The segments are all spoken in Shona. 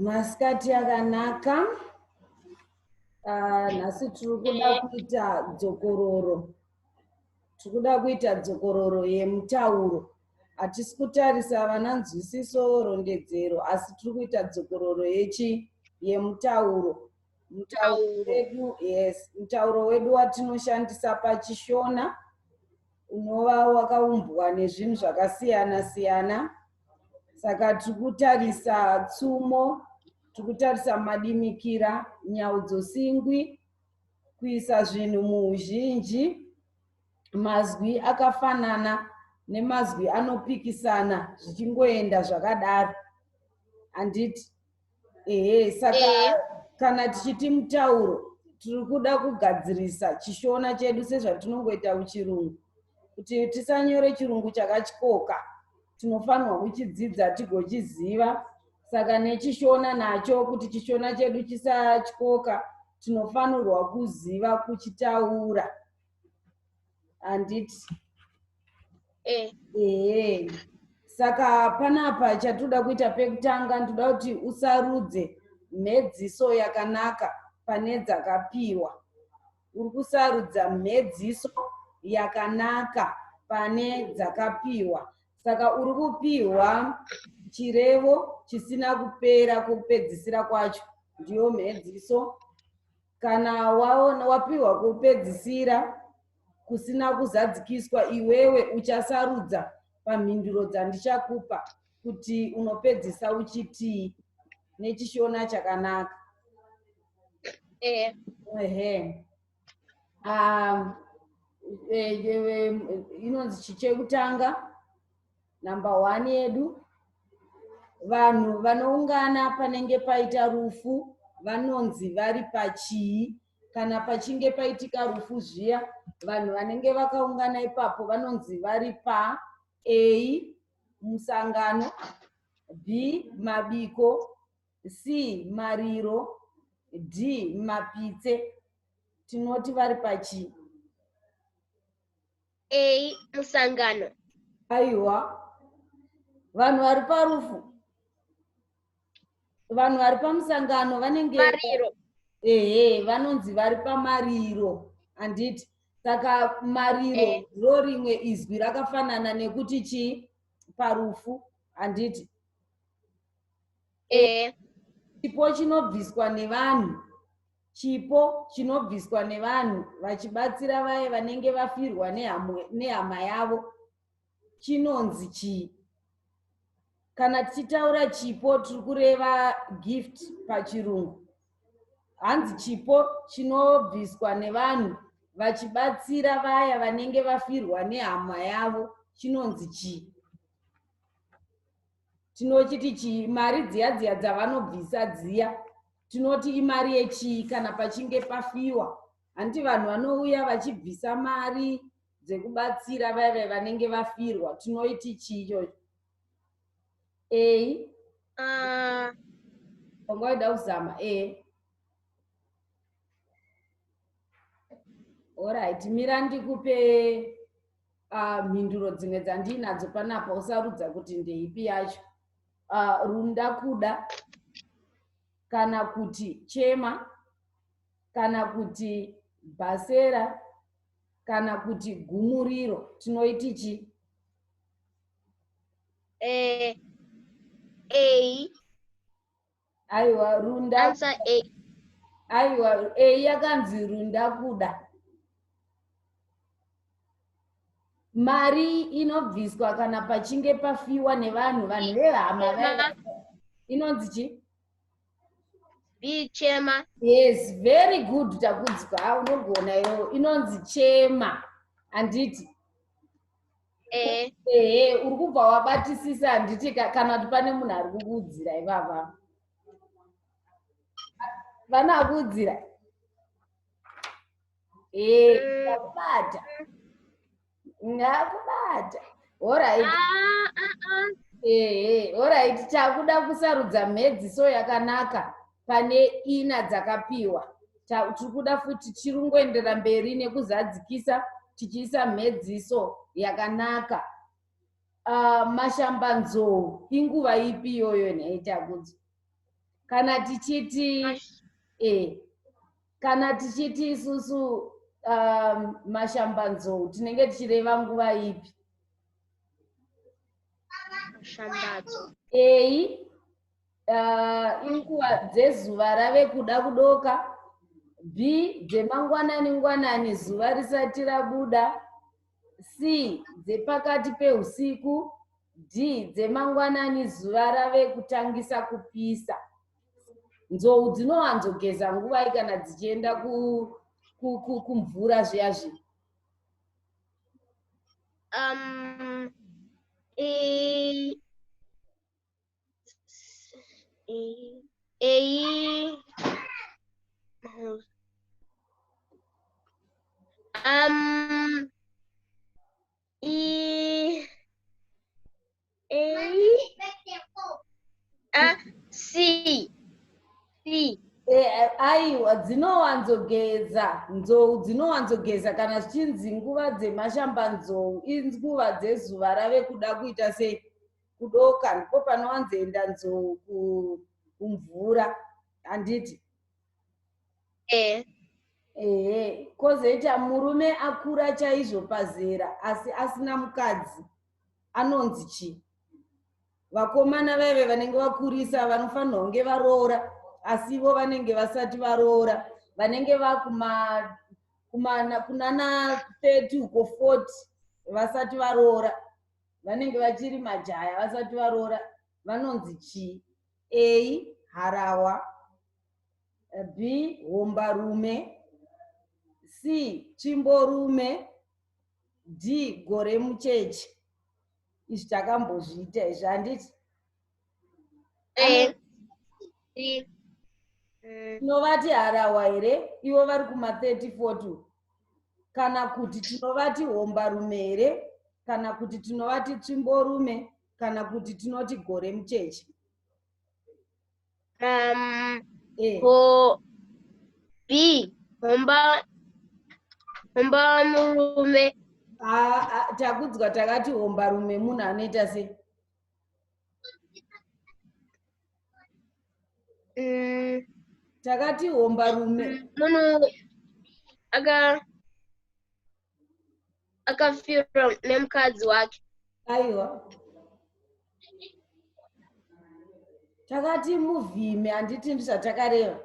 masikati akanaka ah, nhasi tiri kuda kuita dzokororo tiri kuda kuita dzokororo yemutauro hatisi kutarisa vana nzwisiso rondedzero asi tiri kuita dzokororo yechi yemutauro mutauro wedu yes mutauro wedu watinoshandisa pachishona unova wakaumbwa nezvinhu zvakasiyana siyana saka tiri kutarisa tsumo tiri kutarisa madimikira nhau dzosingwi kuisa zvinhu muuzhinji mazwi akafanana nemazwi anopikisana zvichingoenda zvakadaro handiti ehe saka Ehe. kana tichiti mutauro tiri kuda kugadzirisa chishona chedu sezvatinongoita kuchirungu kuti tisanyore chirungu chakatyoka tinofanirwa kuchidzidza tigochiziva saka nechishona nacho kuti chishona chedu chisatyoka tinofanirwa kuziva kuchitaura handiti eh. ehe saka panapa chatoda kuita pekutanga ndoda kuti usarudze mhedziso yakanaka pane dzakapiwa uri kusarudza mhedziso yakanaka pane dzakapiwa saka uri kupiwa chirevo chisina kupera kupedzisira kwacho ndiyo mhedziso kana waona wapiwa kupedzisira kusina kuzadzikiswa iwewe uchasarudza pamhinduro dzandichakupa kuti unopedzisa uchitii nechishona chakanaka ehe ehe um, e, e, e, inonzi chichekutanga Number one yedu vanhu vanoungana panenge paita rufu vanonzi vari pachii kana pachinge paitika rufu zviya vanhu vanenge vakaungana ipapo vanonzi vari pa a musangano b mabiko c mariro d mapitse tinoti vari pachii a musangano aiwa vanhu vari parufu vanhu vari pamusangano vanenge mariro ehe vanonzi vari pamariro handiti saka mariro eh. ro rimwe izwi rakafanana nekuti chii parufu handiti ehe chipo chinobviswa nevanhu chipo chinobviswa nevanhu vachibatsira vaye vanenge vafirwa nehama yavo chinonzi chii kana tichitaura chipo tiri kureva gift pachirungu hanzi chipo chinobviswa nevanhu vachibatsira vaya vanenge vafirwa nehama yavo chinonzi chii tinochiti chii mari dziya dziya dzavanobvisa dziya tinoti imari yechii kana pachinge pafiwa hanti vanhu vanouya vachibvisa mari dzekubatsira vaya vaya vanenge vafirwa tinoiti chii chocho a ah. anga waida kuzama a orit mira ndikupe uh, mhinduro dzimwe dzandiinadzo panapa usarudza kuti ndeipi yacho uh, runda kuda kana kuti chema kana kuti bhasera kana kuti gumuriro tinoiti chi eh, a aiwa runda answer a aiwa a yakanzi runda kuda mari inobviswa kana pachinge pafiwa nevanhu vanhu vehama inonzi chii bichema yes very good takudzwa unogona yo inonzi chema handiti ehe ehe uri kubva wabatisisa handiti ka- kana kuti pane munhu ari kukuudzira ivava vana akuudzira Eh, ndakubata ndakubata horaiti Ah, ah, ah. ehe horaiti takuda kusarudza mhedziso yakanaka pane ina dzakapiwa tiri kuda futi tiri kungoendera mberi nekuzadzikisa tichiisa mhedziso yakanaka uh, mashambanzou inguva ipi iyoyo nhaitakudzo kana tichiti eh, kana tichiti isusu um, mashambanzou tinenge tichireva nguva ipi mashambadzo eyi uh, inguva dzezuva rave kuda kudoka b dzemangwanani ngwanani zuva risati rabuda c dzepakati peusiku d dzemangwanani zuva rave kutangisa kupisa nzou dzinowanzogeza nguvai kana dzichienda kumvura ku, ku, zviya zvinhu um, e... Eyi. Um. E. A. A. C. C. Eh, aiwa dzinowanzogeza nzou dzinowanzogeza kana zvichinzi nguva dzemashamba nzou inguva dzezuva rave kuda kuita sei kudoka ndipo panowanzoenda nzou kumvura handiti eh. ehe kozoita murume akura chaizvo pazera asi asina mukadzi anonzi chii vakomana vaive vanenge vakurisa vanofanirwa kunge varoora asi ivo vanenge vasati varoora vanenge vakumanana kunana 30 uko 40 vasati varoora vanenge vachiri majaya vasati varoora vanonzi chii a harawa b hombarume c chimborume d gore mucheche izvi takambozviita izvi handiti eh, tinovati harahwa here ivo vari kuma 30 40 kana kuti tinovati hombarume here kana kuti tinovati tsvimborume kana kuti tinoti gore mucheche um, eh. ho, b homba homba murume takudzwa takati hombarume munhu anoita sei mm. takati homba rume mm, munhu aka akafirwa nemukadzi wake aiwa takati muvhime handiti ndizvatakareva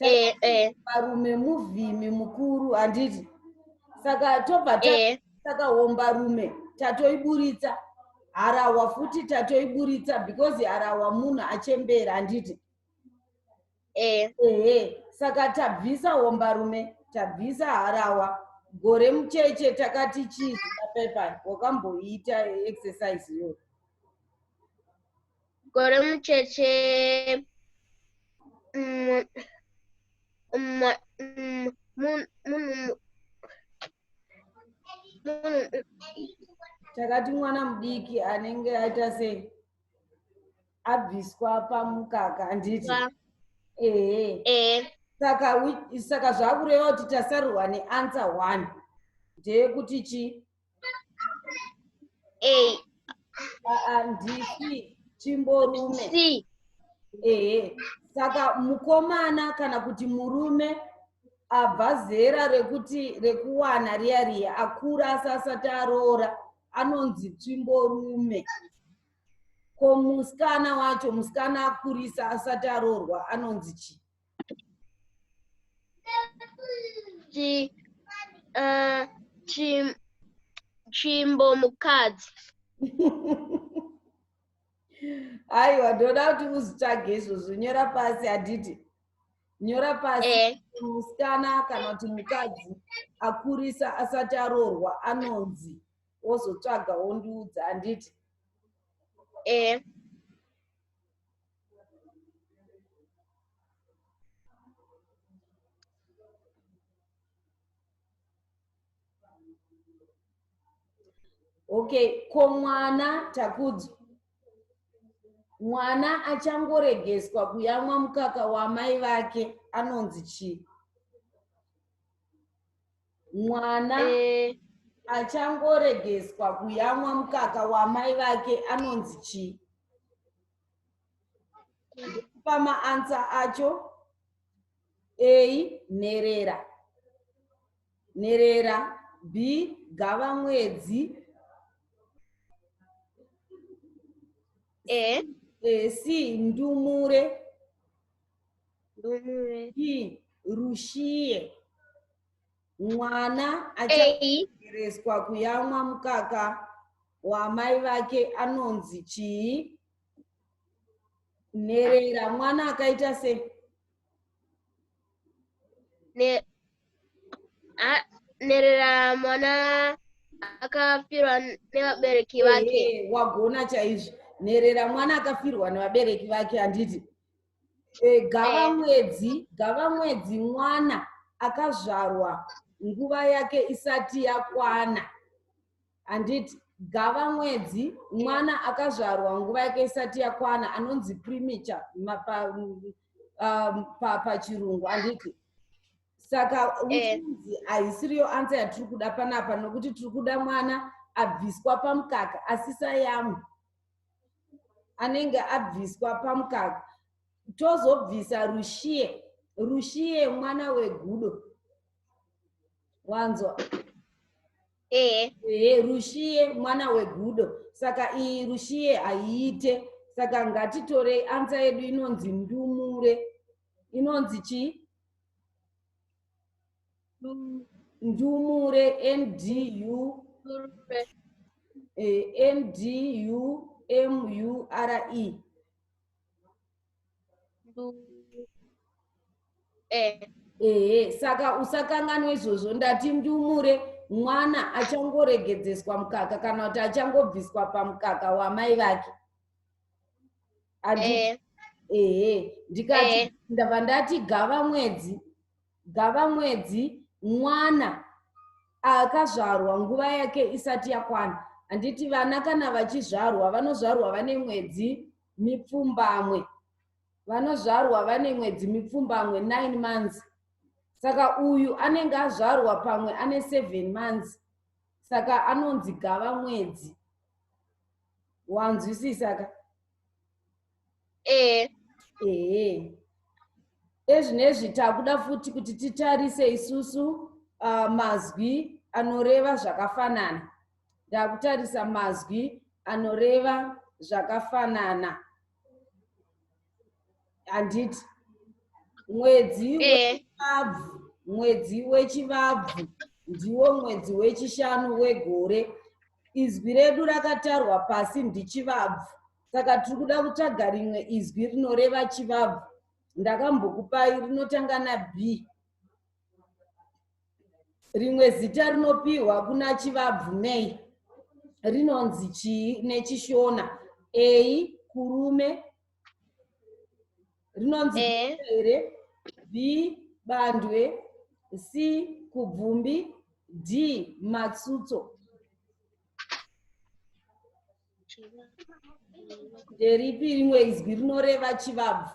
eh, eh. varume muvhimi mukuru handiti saka tobva eh. takaomba rume tatoiburitsa harawa futi tatoiburitsa because harawa munhu achembera handiti ehe saka tabvisa ombarume tabvisa harawa gore mucheche takati chii zvapepa wakamboita exercise iyoyo Gore mucheche mm, mm, mm, mun- munhu munhu takati mwana mudiki anenge aita sei abviswa pamukaka handiti wa- ehe eh, saka wi- saka zvakureva kuti tasarurwa neansa one ndeyekuti chi A. Aa, ndisi chimborume C. ehe saka mukomana kana kuti murume abva zera rekuti rekuwana riya riya akura asi asati aroora anonzi tsvimborume ko musikana wacho musikana akurisa asati aroorwa anonzi chi Chi, uh, chim, chimbo mukadzi. aiwa ndoda kuti uzvitsvage izvozvo nyora pasi aditi nyora pasi eh. musikana kana kuti mukadzi akurisa asati aroorwa anonzi wozotsvaga wondiudza anditi eh. okay ko mwana takudzo mwana achangoregeswa kuyamwa mukaka wamai vake anonzi chii mwana eh. achangoregeswa kuyamwa mukaka wamai vake anonzi chii ndikupa maansa acho ei nherera nherera b gava mwedzi e e c ndumure ndumure e rushiye mwana achaereswa kuyamwa mukaka waamai vake anonzi chii nherera mwana akaita se nherera mwana akafirwa nevabereki vake wagona chaizvo nherera mwana akafirwa nevabereki vake handiti Eh, gava eh. mwedzi gava mwedzi mwana akazvarwa nguva yake isati yakwana handiti gava mwedzi mwana akazvarwa nguva yake isati yakwana anonzi primiture um, pachirungu handiti saka eh. uchizi haisiriyo ansa yatiri kuda panapa nokuti tiri kuda mwana abviswa pamukaka asisayamwe anenge abviswa pamukaka tozobvisa rushiye rushiye mwana wegudo wanzwa ehe ehe rushiye mwana wegudo saka iyi rushiye haiite saka ngatitorei ansa yedu inonzi ndumure inonzi chii ndumure ndu eh, ndu mure eh. ehe saka usakanganwe izvozvo ndati ndumure mwana achangoregedzeswa mukaka kana kuti achangobviswa pamukaka wamai vake ehe eh. eh, ndikati eh. ndava ndati gava mwedzi gavamwedzi mwana akazvarwa nguva yake isati yakwana handiti vana kana vachizvarwa vanozvarwa vane mwedzi mipfumbamwe vanozvarwa vane mwedzi mipfumbamwe 9 months saka uyu anenge azvarwa pamwe ane 7 months saka anonzi gava mwedzi wanzwisisaka ehe ehe ezvinezvi takuda futi kuti titarise isusu uh, mazwi anoreva zvakafanana ndakutarisa mazwi anoreva zvakafanana handiti mwedzi eh. wechivabvu mwedzi wechivabvu ndiwo mwedzi wechishanu wegore izwi redu rakatarwa pasi ndichivabvu saka tiri kuda kutsvaga rimwe izwi rinoreva chivabvu ndakambokupai rinotanga nab rimwe zita rinopiwa kuna chivabvu nei rinonzi chii nechishona ei kurume rinonzi eh. here b bandwe c kubvumbi d matsutso nderipi rimwe izwi rinoreva chivabvu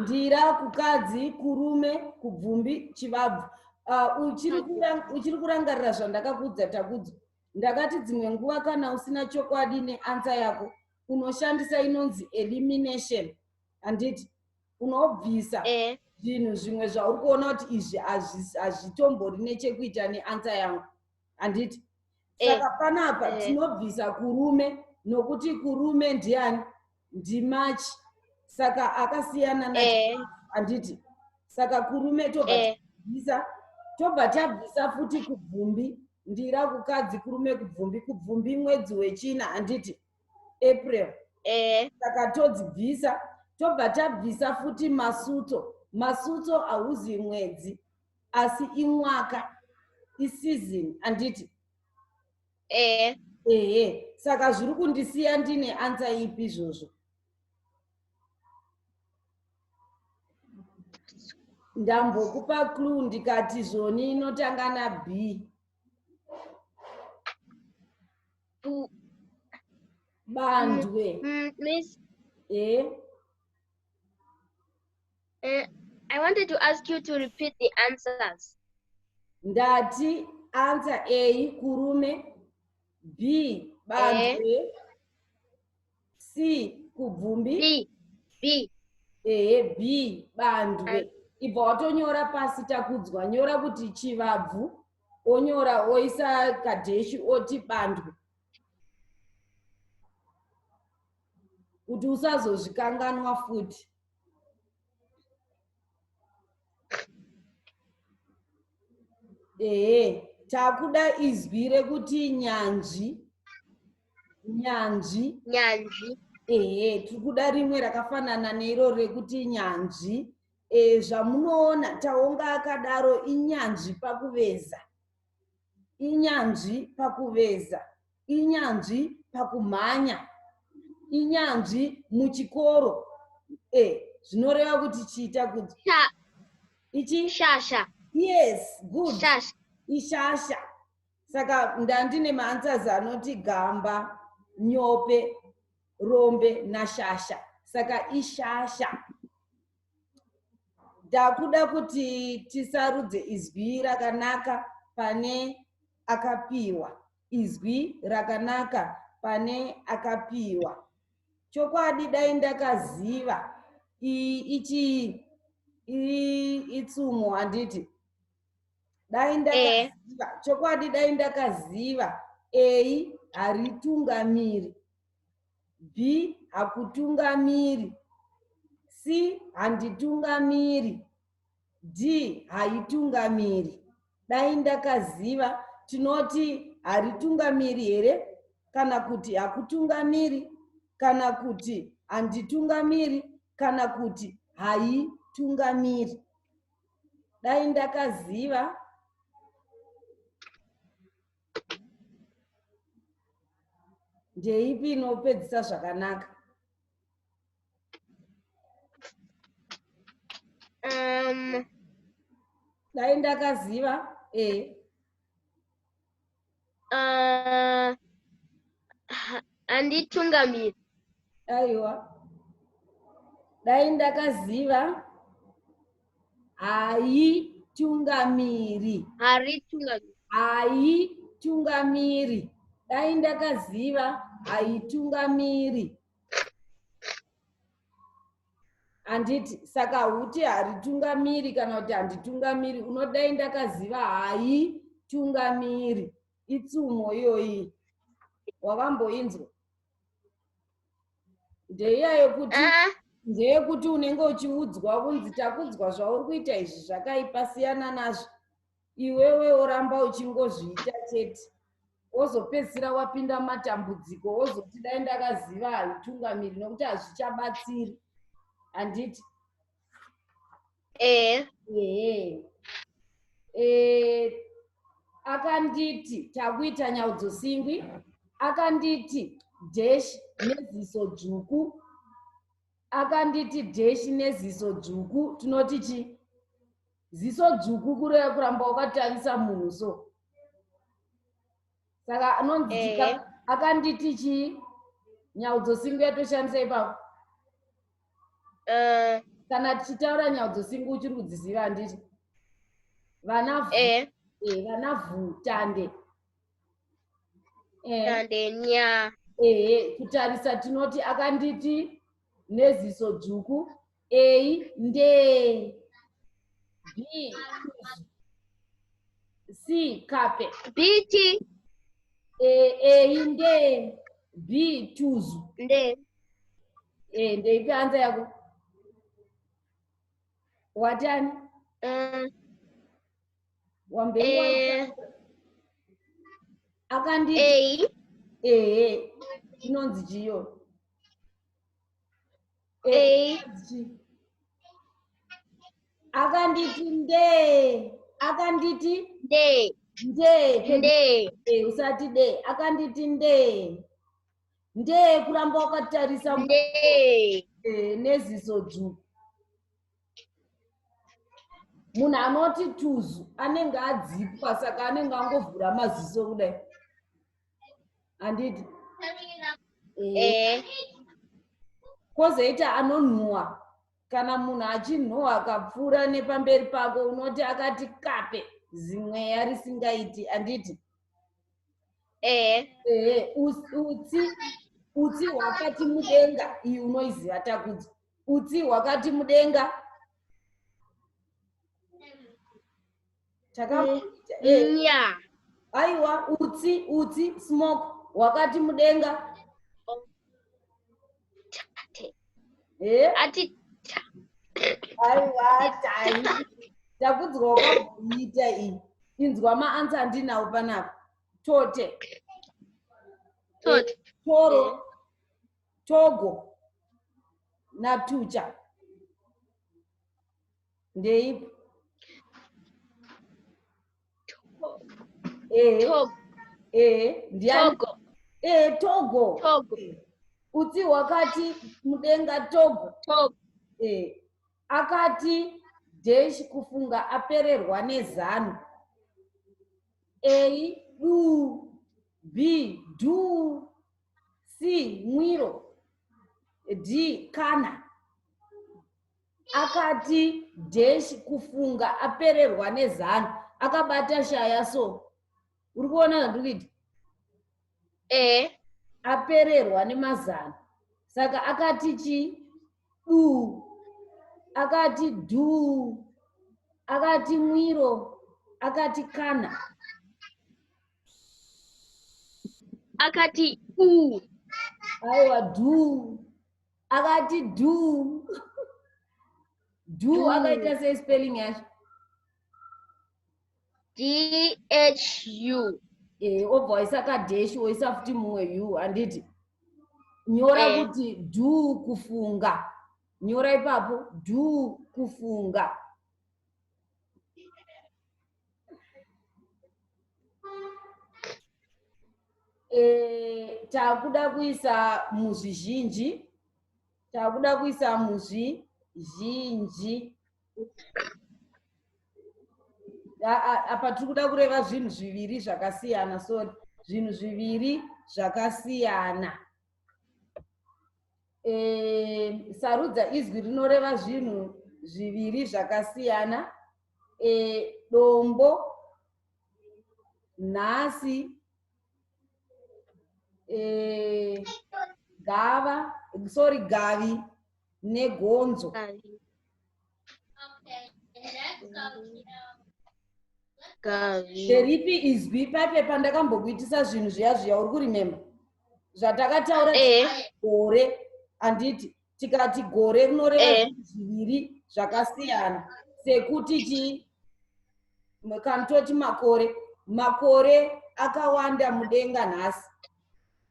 ndira kukadzi kurume kubvumbi chivabvu ah, uchiri kurangarira zvandakakuudza takudzo ndakati dzimwe nguva kana usina chokwadi neansa yako unoshandisa inonzi elimination handiti unobvisa eh. zvinhu eh. zvimwe zvauri kuona kuti izvi hazvitombori nechekuita neansa yangu handiti eh. saka eh. panapa tinobvisa eh. kurume nokuti kurume ndiani ndimarch saka akasiyana na eh. handiti saka kurume tobva eh. tabvisa tobva tabvisa futi kubvumbi ndira kukadzi kurume kubvumbi kubvumbi mwedzi wechina handiti april eh. saka todzibvisa tobva tabvisa futi masuto masuto hauzi mwedzi asi imwaka isizini handiti ehe ehe saka zviri kundisiya ndine ansa ipi izvozvo ndambokupa clu ndikati zvoni inotanga na b bandwe mm, mm, miss e Uh, I wanted to ask you to repeat the answers. Ndati answer A kurume, B banze, eh. C kubvumbi. B, B. Ehe, B bandwe. Ibva watonyora pasi takudzwa, nyora kuti chivabvu, onyora oisa kadheshi oti bandwe. kuti usazozvikanganwa futi ehe takuda izwi rekuti nyanzvi nyanzvi nyanzvi ehe tiri kuda rimwe rakafanana neiro rekuti nyanzvi e, zvamunoona taonga akadaro inyanzvi pakuveza inyanzvi pakuveza inyanzvi pakumhanya inyanzvi muchikoro e zvinoreva kuti chiita kuti ichi shasha yes good shasha ishasha saka ndandine maanswers anoti gamba nyope rombe nashasha saka ishasha ndakuda kuti tisarudze izwi rakanaka pane akapiwa izwi rakanaka pane akapiwa chokwadi dai ndakaziva iyi ichii itsumo handiti dai eh. ndakaziva chokwadi dai ndakaziva eyi haritungamiri B. Hakutungamiri C. Handitungamiri D. Haitungamiri Dai ndakaziva tinoti haritungamiri here kana kuti hakutungamiri kana kuti handitungamiri kana kuti haitungamiri dai ndakaziva ndeipi inopedzisa zvakanaka um, dai ndakaziva e eh. uh, handitungamiri aiwa dai ndakaziva haitungamiri haritungamiri haitungamiri dai ndakaziva haitungamiri handiti saka huti haritungamiri kana kuti handitungamiri unodai ndakaziva haitungamiri itsumo iyoyi wakamboinzwa ndeiya yekuti ah. ndeyekuti unenge uchiudzwa kunzi takudzwa zvauri kuita izvi zvakaipa siyana nazvo iwewe oramba uchingozviita chete wozopedzisira wapinda matambudziko wozoti dai ndakaziva haitungamiri nokuti hazvichabatsiri handiti ehe ehe eh, akanditi takuita nyaudzo singwi akanditi dash neziso dzvuku akanditi dash neziso dzvuku tinoti chi ziso dzvuku kureva kuramba wakatarisa munhu so saka anonzi Ehe. akanditi chii nyaudzo singu yatoshandisa ipapo Eh, kana tichitaura nyaudzo singu uchiri kudziziva handiti vana vhu- eh, eh, vana vhutande Eh, tande nya. ehe kutarisa tinoti akanditi neziso dzvuku a ndee b c kape biti e, a ndee b tuzu ndee e, ndeipi anza yako watani um, wambei e, akandii ehe inonzi chiyo akanditi ndee akanditi ndee ndee ndee eh, usati dee akanditi ndee ndee kuramba wakatarisa ndee eh, neziso dzvuku munhu anoti tuzu anenge adzipwa saka anenge angovhura maziso kudai handiti kozoita anonhuwa kana munhu achinhuwa akapfuura nepamberi pako unoti akati kape zimweya risingaiti handiti ehe utsi utsi hwakati mudenga iyi unoiziva takudzo utsi hwakati mudenga takaita eh. yeah. aiwa utsi utsi smoke wakati mudenga oh. eh? ati aiwa tai takudzwa kwaiita iyi inzwa maansa andinawo panapa tote toro eh. togo natucha ndeipi ehe Togo. ehe ndiani Togo. ehe togo Togo. utsi hwakati mudenga togo Togo. Eh, akati deshi kufunga apererwa nezano a du b du c mwiro d kana akati dash kufunga apererwa nezanu akabata shaya so uri kuona zvandiri kuita e apererwa nemazano saka akati chi du akati du akati mwiro akati kana akati u aiwa du akati do do akaita sei spelling yacho dhu e obva waisa kadeshi woisa futi mumwe u handiti nyora e. kuti dhu kufunga nyora ipapo dhu kufunga Eh, takuda kuisa muzvizhinji takuda kuisa muzvizhinji apa tiri kuda kureva zvinhu zviviri zvakasiyana sori zvinhu zviviri zvakasiyana e, sarudza izwi rinoreva zvinhu zviviri zvakasiyana e, dombo nhasi e, gava sorry gavi negonzo nderipi izwi paipe pandakambokuitisa zvinhu zviya zviya uri kurimemba zvatakataura eh. gore handiti tikati gore rinoreva eh. zviviri zvakasiyana sekuti chii kana toti makore makore akawanda mudenga nhasi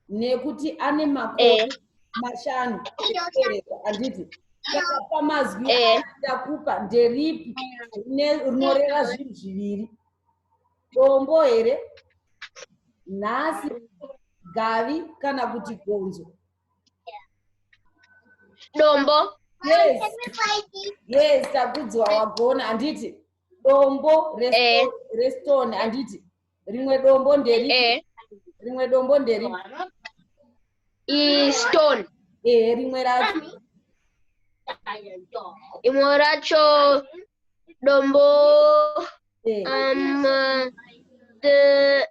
nekuti ane makore eh. mashanu ekupereka handiti saka pamazwi eh. ndakupa nderipi rinoreva zvinhu zviviri dombo here nhasi gavi kana kuti gonzo dombo yes yes takudziwa wagona handiti dombo restone eh. handiti rimwe dombo nderi eh. rimwe dombo nderi istone ehe rimwe racho imwe racho dombo eh. um, the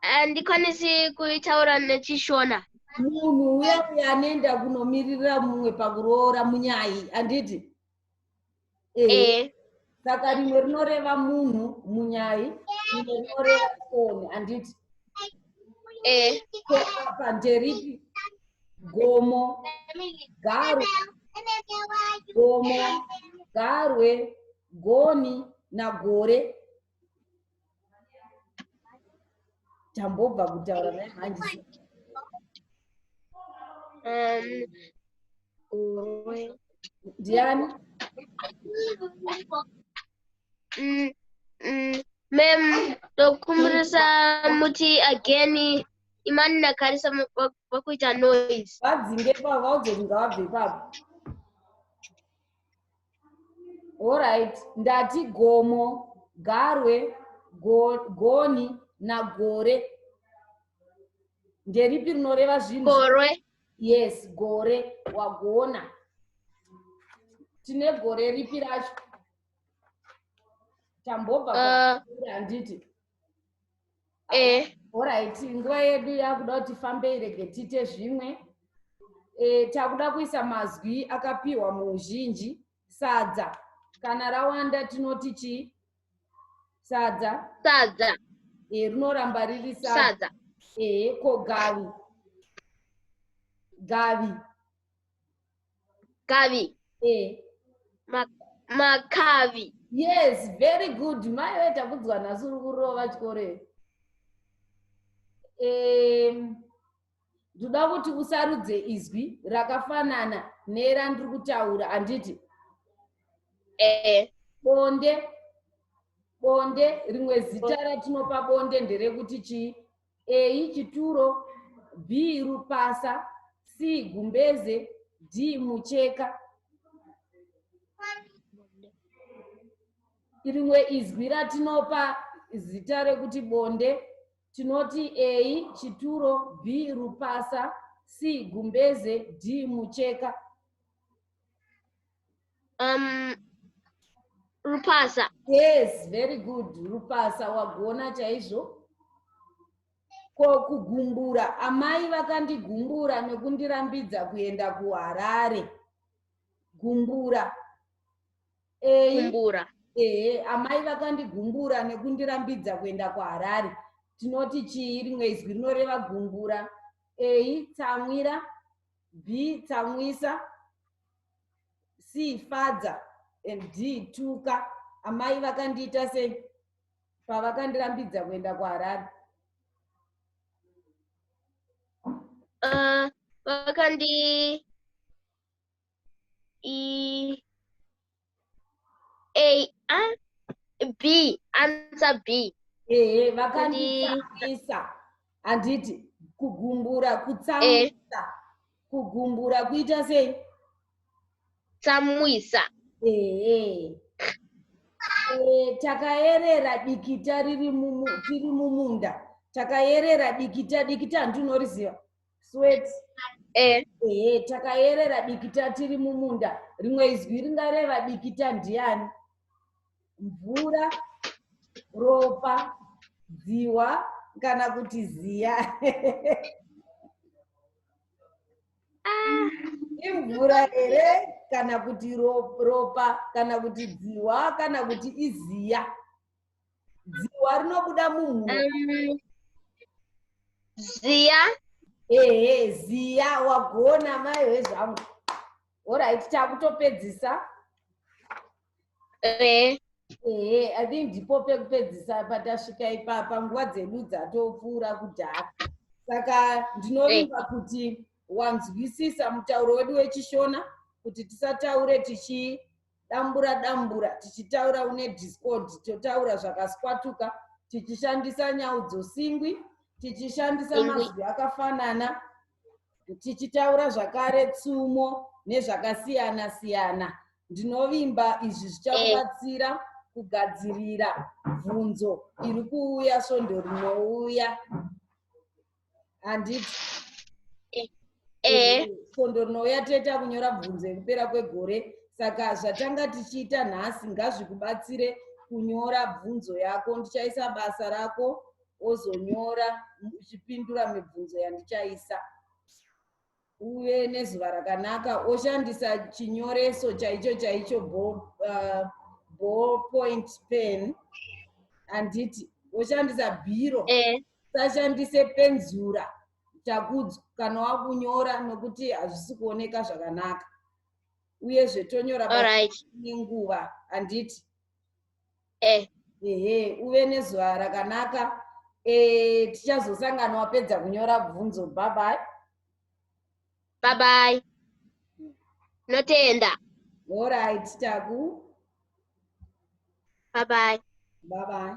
handikwanisi kuitaura nechishona munhu uya uya anoenda kunomiririra mumwe pakuroora munyai handiti e saka rimwe rinoreva munhu munyai rimwe rinoreva foni handiti e apa nderipi gomo garwe gomo garwe goni nagore tambobva kutaura naye manje um, ndiani mm, mm, mem ndokumbirisa muti again imani nakarisa vakuita noise vadzinge pavo vaudze kunga vabve ipapo Alright, ndati gomo, garwe, go, goni nagore. Nderipi rinoreva zvinhu? Gorwe. Yes, gore wagona. Tine gore ripi racho? Tambobva uh, handiti? eh alright nguva yedu yakuda kuti fambe irege tiite zvimwe eh takuda kuisa mazwi akapiwa muuzhinji sadza kana rawanda tinoti chi sadza sadza eh rinoramba riri sadza eh ko gavi gavi Kavi. Eh. Ma, makavi. Yes, very good. Mai wewe takudzwa nhasi uri kurova chikore. Um, ndoda kuti usarudze izwi rakafanana nerandiri kutaura handiti ee bonde bonde rimwe zita ratinopa bonde nderekuti chii a chituro b rupasa c gumbeze d mucheka rimwe izwi ratinopa zita rekuti bonde tinoti a chituro b rupasa c gumbeze d mucheka Um, Rupasa. Yes, very good. Rupasa wagona chaizvo. Ko kugumbura, amai vakandigumbura nekundirambidza kuenda kuHarare. Gumbura. Eyi. Gumbura. Ehe, amai vakandigumbura nekundirambidza kuenda kuHarare. Tinoti chii rimwe izwi rinoreva gumbura? Eyi, tsamwira. B, tsamwisa. see father and d tuka amai vakandiita sei pavakandirambidza kuenda kuharare uh, vakandi e a a b answer b ehe vakanditambisa handiti kugumbura kutsamisa eh. kugumbura kuita sei tsamwisa ehe Eh, takayerera dikita riri mumu- tiri mumunda takayerera dikita dikita hanti unoriziva sweat eh ehe takayerera dikita tiri mumunda rimwe izwi ringareva dikita ndiani mvura ropa dziwa kana kuti ziya imvura here kana kuti ropa kana kuti dziwa kana kuti iziya dziwa rinobuda mumhura um, ziya ehe ziya wagona mai hezvangu orit takutopedzisa ehe ehe i think ndipo pekupedzisa patasvika ipapa nguva dzedu dzatopfuura kudhara saka ndinovimba eh. kuti wanzwisisa mutauro wedu wechishona kuti tisataure tichidambura dambura tichitaura une discord totaura zvakaswatuka tichishandisa nyau dzosingwi tichishandisa mazwi akafanana tichitaura zvakare tsumo nezvakasiyana siyana ndinovimba izvi zvichakubatsira eh. kugadzirira bvunzo iri kuuya svondo rinouya handiti eh. eh. svondo rinouya toita kunyora bvunzo yekupera kwegore saka zvatanga tichiita nhasi ngazvikubatsire kunyora bvunzo yako ndichaisa basa rako wozonyora uchipindura mibvunzo yandichaisa uve nezuva rakanaka woshandisa chinyoreso chaicho chaicho uh, ball point pen handiti woshandisa bhiro eh. usashandise penzura chakudzo kana wakunyora nokuti hazvisi kuoneka zvakanaka uyezve tonyora nenguva handiti eh. ehe uve nezuva rakanaka eh, tichazosangana wapedza kunyora bvunzo babai babai notenda orit taku babai babai